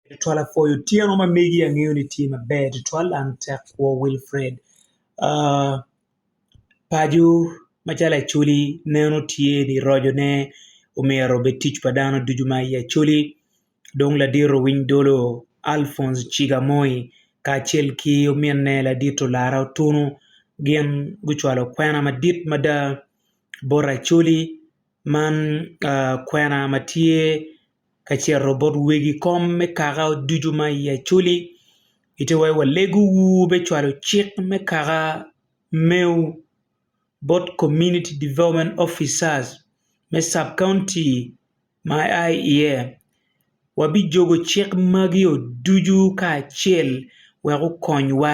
Tutwal apwoyo otyeno ma megi angeyo ni tye maber tutwal an tek kwo Wilfred aa paco macalo acholi neno tye ni roco ne omyero obed tic pa dano ducu ma i acholi dong ladito winy dolo Alphonse ciga moi kacel ki ominne ladito lara otunu gin gucwalo kwena madit mada bot acholi Man kwena ma tye ka cito bot wegi kom me kaka ducu ma iye acoli kite wai walegowu me cwalo cik me kaka mewu bot Community Development Officers me Sub County ma ia iye wabijobo cik magio ducu kacel wek okonywa.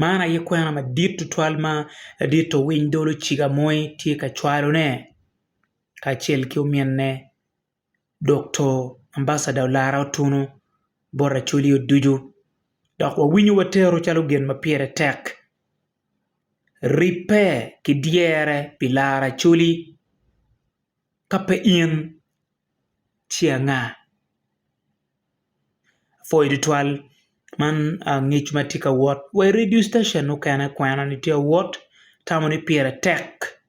Man aye kwena madit tutwal ma ladit owiny dolo ciga moye tye ka cwalone kacel ki ominne Dokto Ambacada Olara Otuno bot Acholi Oducu dok wawinyo watero calo gin ma pire tek ribbe ki dyere pi laro Acholi ka pe in ci anga. apwoyo tutwal man ngec ma atye ka wot wa i redio citacion mukene kwena ni tye ka wot atamo ni pire tek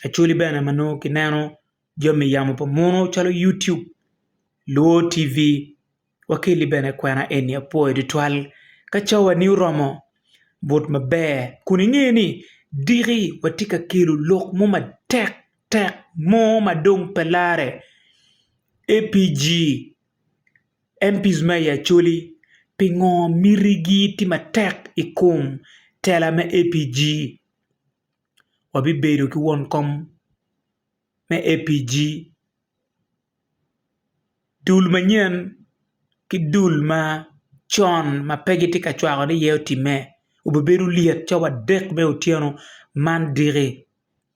actuali bene ma nongo kineno jami yamo pa munu calo yutub, luo TV wakeli bene kwena eni apwoyo tutwal ka cawani oromo but maber kun inge ni diki watye ka kelo lok mo matek. Tek mo ma dong pe larre, APG, MPs ma i Acholi, pingo miti gi tye matek i kom tela me APG? Wabibedo ki won kom me APG, dul manyen ki dul ma con ma pe gitye ka cwako ni iye otimme, obibedo lyet ca wadek me otyeno man diki.